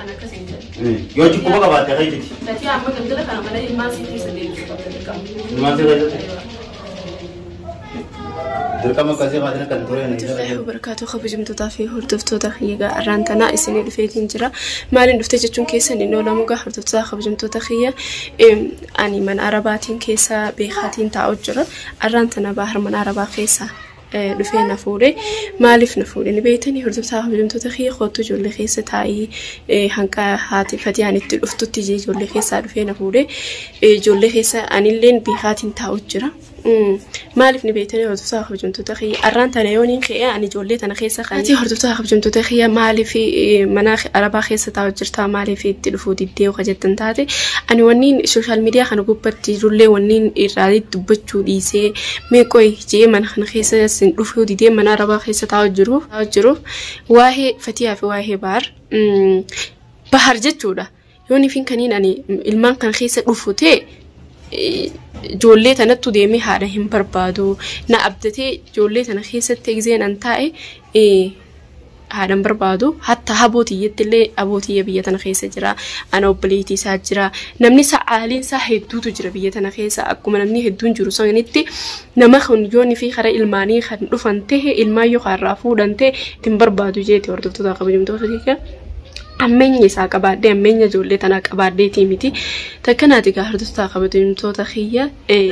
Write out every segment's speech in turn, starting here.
An akkas hin jedhu. Yoo achi quba qabaatte akka itti. Tatii amma galgala kana mana ilmaan sii keessa deebisu qabda dirqama. Ilmaan sii keessa? Dirqama akkasii maatiin akka hin tureen. Abdullahi wabarakaatu kabajamtootaa fi hordoftoota kiyya egaa arraan tanaa isinii dhufeetiin jira maaliin dhufte jechuun keessan hin oolamu egaa hordoftoota kabajamtoota kiyya em, ani mana arabaatiin keessa beekaatiin taa'u jira arraan tana baahar mana arabaa keessa dhufee na fuudhe maaliif na fuudhe ni beeytanii hordoftaa hojjamtoota kiyya kootu ijoollee keessa taa'ii eh, hanqa haati fatiyaan itti dhuftutti ijee ijoollee keessaa dhufee na fuudhe Eh, ijoollee keessa anilleen beekaatiin taa'u jira Mm, maaliif ni beeytanii hordoftaa hojjamtoota kiyya arraan tana yooniin ka'ee ani ijoollee tana keessa kan ati hordoftaa hojjamtoota kiyya maaliif eh, mana arabaa keessa taa'u jirtaa maaliif itti dhufuu diddee yoo jettan taate ani wanniin sooshaal miidiyaa kana gubbatti jirullee wanniin irraa dubbachuu dhiisee Mee qoyi je'ee mana kana keessa sin dhufuu didee mana arabaa keessa taa'u jiru taa'u jiru waa'ee fatiyaa fi waa'ee bahar mm, bahar jechuudha yoon ifin kaniin ani ilmaan kana keessa dhufu ta'e eh, ijoollee tanattu deemee haadha hin barbaadu na abdatee ijoollee tana keessatti egzeen an taa'e eh, haadhan barbaadu hatta haboo tiyyetti illee aboo tiyya biyya tana keessa jira ana obboleetii isaa jira namni isaa aaliin isaa hedduutu jira biyya tana keessa akkuma namni hedduun jiru sanitti nama kun yoon fi karaa ilmaanii kan dhufan ta'e ilmaan yoo kaarraa fuudhan ta'e ittiin barbaadu jeeti hordoftoota kabajamtoota keessa ammeenya isaa qabaadhee ammeenya ijoollee tanaa qabaadheetii miti takkanaati gaa hordoftoota kabajamtoota kiyya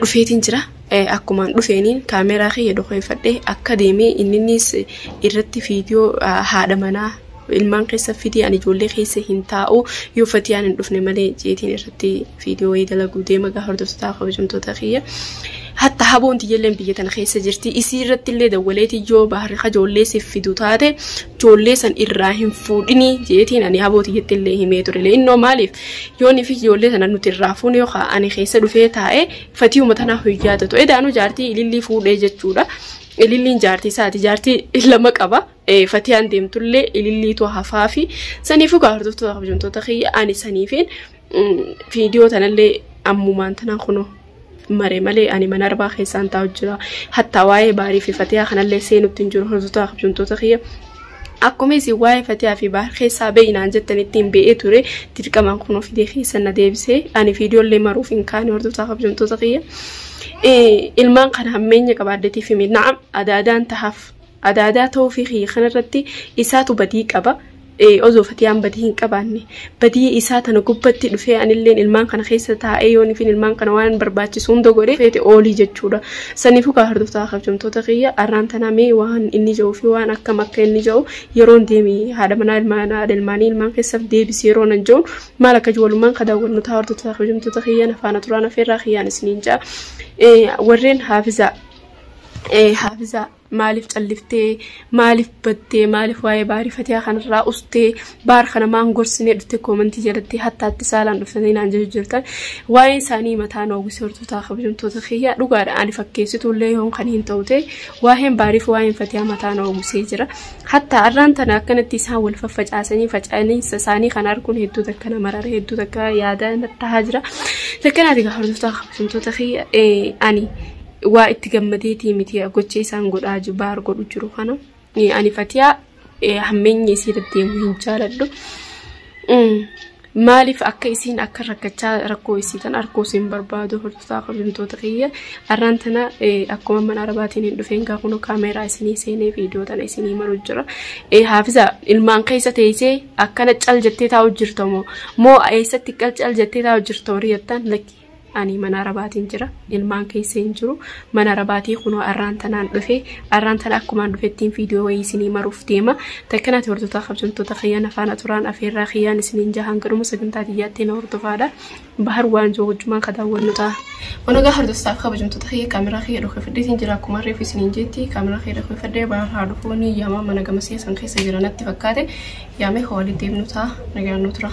dhufeetiin jira. Akkumaan dhufeeniin kaameeraa kiyya dokoyfadhee akka deeme inninnis irratti viidiyoo haadha manaa ilmaan keessa fidee ani ijoollee keessa hin taa'u yoo fatiyaan hin dhufne malee jeetiin irratti viidiyoo wayii dalaguu deema gaa hordoftotaa kabajamtoota kiyya. Hatta haboon tiyyalleen biyya tana keessa jirti isii irratti illee dawwaleeti yoo baharri kajoollee siif fidu taate joollee san irraa hin fuudhini jeetiin ani haboo tiyyatti illee himee turele innoo maaliif yoon fi ijoollee sana nuti irraa fuune yookaan ani keessa dhufee taa'e Fatiyuma tanaa hin yaadatu. Edaanuu jaartii ilillii fuudhee jechuudha. Ililliin jaartii isaati. Jaartii lama qaba. Eh, Fatiyaan deemtullee ililliitu hafaa fi saniifuu gaa hordoftoota kabajamtoota kiyya ani saniifiin mm, viidiyoo tanallee ammumaan tanaan kunoo mare malee ani mana arbaa keessaan taa'u jira. Hattaa waa'ee baarii fi fatiyaa kanallee seenutti hin jiru hordoftoota kabajamtoota kiyya. Akkuma isin waa'ee Fatiyaa fi Bahar keessaa ba'i naan jettanittiin ba'ee ture dirqamaan kunoo fidee keessan na deebise ani viidiyoollee maruuf hin kaane hordoftaa kabajamtoota kiyya. Eh, Ilmaan kana hammeenya qaba addatii fi miidhaa adaadaan tahaaf adaadaa ta'uu fi kiyya kanarratti isaatu badii qaba. Eh, Osoo Fatiyaan badii hin qabaanne badiyya isaa tana gubbatti dhufee anilleen ilmaan kana keessa taa'ee yoon ifin ilmaan kana waan barbaachisu hunda godhe feete oolii jechuudha. Saniifuu kaa hordoftaa kabjamtoota kiyya arraan tanaa mee waan inni ja'uu fi waan akkam akka inni ja'u yeroon deemi haadha manaa ilmaan haadha ilmaanii ilmaan keessaf deebisi yeroo nan ja'u maal akka jiru walumaan ka daawwannu taa hordoftaa kabjamtoota kiyya na faana turaan afeerraa kiyyaan isiniin ja'a. Warreen haafizaa haafizaa maaliif calliftee maaliif battee maaliif waa'ee baarii fatiyaa kanarraa ustee baar kana maan gorsinee dhufte koomantii jalatti hattaatti saalaan dhuftanii naan jechuu jirtan waa'ee isaanii mataa nu hawwise hortootaa kabajamtoota kiyyaa dhugaadha ani fakkeessituullee yoon kan hin ta'u ta'e waa'een baariif waa'een fatiyaa mataa nu hawwisee jira hattaa arraan tana akkanatti isaan wal faffacaasanii faca'aniinsa isaanii kan arguun hedduu takka nama marara hedduu takka yaada tahaa jira takkanaati gaa hortootaa kabajamtoota kiyya ani waa itti gammadeetii miti gocha isaan godhaa jiru baar godhu jiru kana ani fatiyaa hammeenya isii deddeemu hin jaaladhu maaliif akka isiin akka rakkachaa rakkoo isii tan arkoo siin barbaadu hortotaa kabajamtoota kiyya arraan tana akkuma mana arabaatiin hin dhufeen gaa kunoo kaameeraa isinii seenee viidiyoo tana isinii maruu jira haafiza ilmaan keessa teessee akkana cal jettee taa'u jirta moo moo eessatti cal cal jettee taa'u jirta horii jettaan lakki ani mana arabaatiin jira ilmaan keessa hin jiru mana arabaatii kunoo arraan tanaan dhufe arraan tana akkumaan dhufettiin viidiyoo wayii isinii maruuf deema takkanaati hordoftoota kabjamtoota kiyyaan afaana turaan afeerraa kiyyaan isiniin jahaan garuma sagantaa tiyyaatti na hordofaadha bahar waan jiru wajjumaan ka daawwannu ta'a. Wanogaa hordoftaaf kabajamtoota kiyya kaameraa kiyya dhokefadheetiin jira akkuma reefu isiniin jetti kaameraa kiyya dhokefadhee bahar haa dhufuu ni yaamaa mana gama seesan keessa jira natti fakkaate yaamee ka walitti deemnu ta'a nagaan nu tura.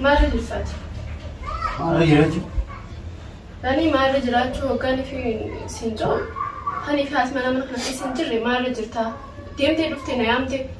Maarra jirfaati. Maarra jiraachuu. Ani maarra jiraachuu hoggaan fi siin jiru. Ani fi haasma nama kana keessa hin jirre maarra jirtaa. Deemtee dhuftee na yaamte.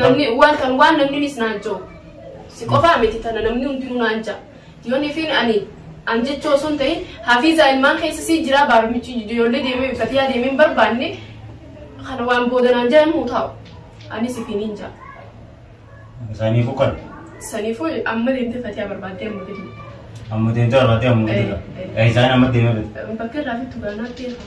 namni waan kan waan namni nis naan ja'u si qofaa miti tana namni hundinuu naan ja'a yoon ifiin ani an jechuu osoo hin ta'in hafiizaa ilmaan keessa sii jiraa baarmichi ijoollee deemee fatiyaa deemee hin barbaanne kana waan booda naan ja'an muu taa'u anis ifiin hin ja'a Isaanii fukan. saniifuu amma deemtee fatiyaa barbaaddee amma gadi Amma deemtee barbaadee amma guddaa. Isaan amma deemee bakka irraa fittu gaanaatti eegaa.